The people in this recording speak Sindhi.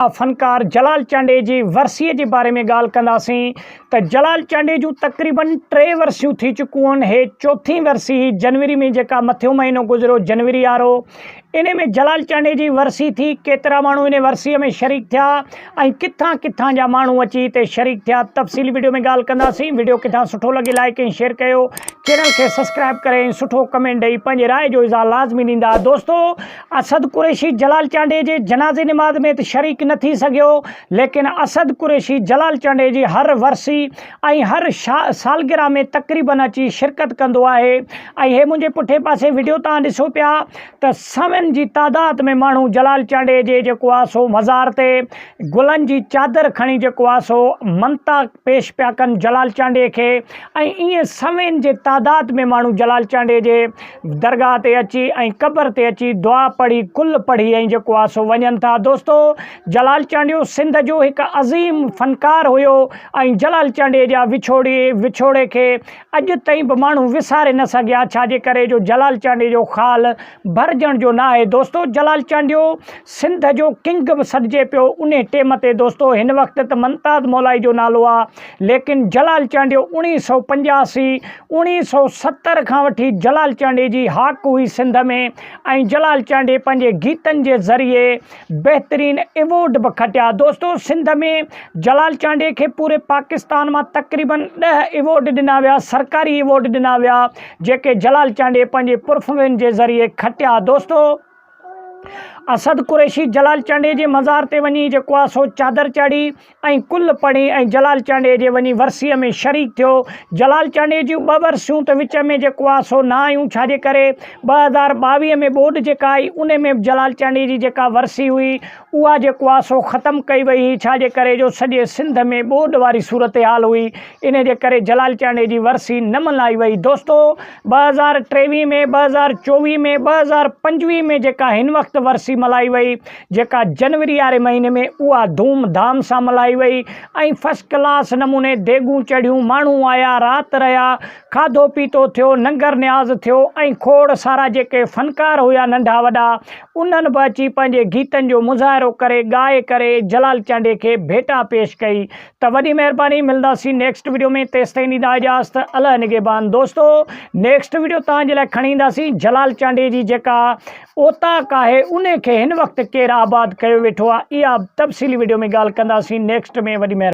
آ فنڪار جلال چانڊيي جي ورسيء جي باري ۾ ڳالهه ڪنداسين ته جلال چانڊيي جون تقريبن ٽي ورسيون ٿي چڪون هي چوٿين ورسي هي جنوري ۾ جيڪا مٿيون مهينو گذريو جنوري آرو انهي ۾ جلال چانڊيي جي ورسي ٿي ڪيترا ماڻهو انهي ورسيء ۾ شريڪ ٿيا ۽ ڪٿان ڪٿان جا ماڻهو اچي هتي شريڪ ٿيا تفصيلي ويڊيو ۾ ڳالهه ڪنداسين ويڊيو ڪٿان سٺو لڳي لائيڪ ۽ شيئر ڪيو چينل کي سسڪرائب ڪري ۽ سٺو ڪمينٽ ڏئي پنهنجي راء جو اظهار لازمي ڏيندا دوستو اسد قريشي جلال چانڊيي جي جنازي نماز ۾ ته شريڪ نه ٿي سگهيو ليڪن اسد قريشي جلال چانڊيي جي هر ورسي ۽ هر سالگرهه ۾ تقريبن اچي شرڪت ڪندو آهي ۽ هي منهنجي پٺئين پاسي وڊيو توهان ڏسو پيا ته سوين جي تعداد ۾ ماڻهو جلال چانڊيي جي جيڪو آهي سو مزار تي گلن جي چادر کڻي جيڪو آهي سو منتا پيش پيا ڪن جلال چانڊيي کي ۽ ائين سوين جي تعداد ۾ ماڻهو جلال چانڊيي جي درگاهه تي اچي ۽ قبر تي اچي دعا پڙهي ڪل پڙهي ۽ جيڪو آ سو وڃن ٿا دوستو جلال چانڊيو سنڌ جو هڪ عظيم فنڪار هيو ۽ جلال چانڊيي جا وڇوڙي وڇوڙي کي اڄ تائين به ماڻهو وساري نه سگهيا ڇا جي ڪري جو جلال چانڊيي جو خال ڀرجڻ جو ناهي دوستو جلال چانڊيو سنڌ جو ڪنگ به سڏجي پيو انهي ٽيم تي دوستو هن وقت ته منتاد مولائي جو نالو آ ليڪن جلال چانڊيو اڻيهه سئو پنجاسي اوڻيهه سؤ ستر کان وٺي جلال چانڊي جي هاڪ هئي سنڌ ۾ ۽ جلال چانڊي پنهنجي گيتن جي ذريعي بهترين ايوارڊ به کٽيا دوستو سنڌ ۾ جلال چانڊي کي پوري پاڪستان مان تقريبن ڏهه ايوارڊ ڏنا ويا سرڪاري ايوارڊ ڏنا ويا جيڪي جلال چانڊي پنهنجي پرفومين جي ذريعي کٽيا دوستو اسد قريشي جلال چانڊيي جي مزار تي وڃي جيڪو آ سو چادر چاڙهي ۽ ڪل پڙهي ۽ جلال چانڊيي جي وڃي ورسيء ۾ شريڪ ٿيو. جلال چانڊيي جون ٻه ورسيون ته وچ ۾ جيڪو آ سو نه آيون ڇا جي ڪري ٻه هزار ٻاويهه ۾ ٻوڏ جيڪا آئي انهي ۾ به جلال چانڊيي جي جيڪا ورسي هئي اها جيڪو آ سو ختم ڪئي وئي هئي ڇا جي ڪري جو سڄي سنڌ ۾ ٻوڏ واري صورتحال هئي انهي جي ڪري جلال چانڊيي جي ورسي نه ملهائي وئي دوستو ٻه هزار ٽيويهه ۾ ٻه هزار چوويهه ۾ ٻه هزار پنجويهه ۾ جيڪا هن وقت ورسي ملهائي وئي جيڪا جنوري واري مهيني ۾ اها ڌوم ڌام سان ملهائي وئي ۽ فسٽ ڪلاس نموني ديڳون چڙهيون ماڻهو آيا رات رهيا کاڌو پيتو ٿيو ننگر نياز ٿيو ۽ کوڙ سارا جيڪي فنڪار هيا ننڍا وڏا انهن به اچي پنهنجي گيتن جو مظاهرو ڪري ڳائي ڪري جلال چانڊيي کي ڀيٽا پيش ڪئي ته وڏي مهرباني ملنداسين نيڪسٽ وڊيو ۾ تيستائين ڏيندا اجازت الله نگهبان دوستو نيڪسٽ وڊيو توهان جي لاء کڻي اينداسين جلال چانڊيي جي جيڪا اوطاق آهي ان کي هن وقت ڪير آباد ڪيو ويٺو آهي اها تفصيلي وڊيو ۾ ڳالهه ڪنداسين نيڪسٽ ۾ وڏي مهرباني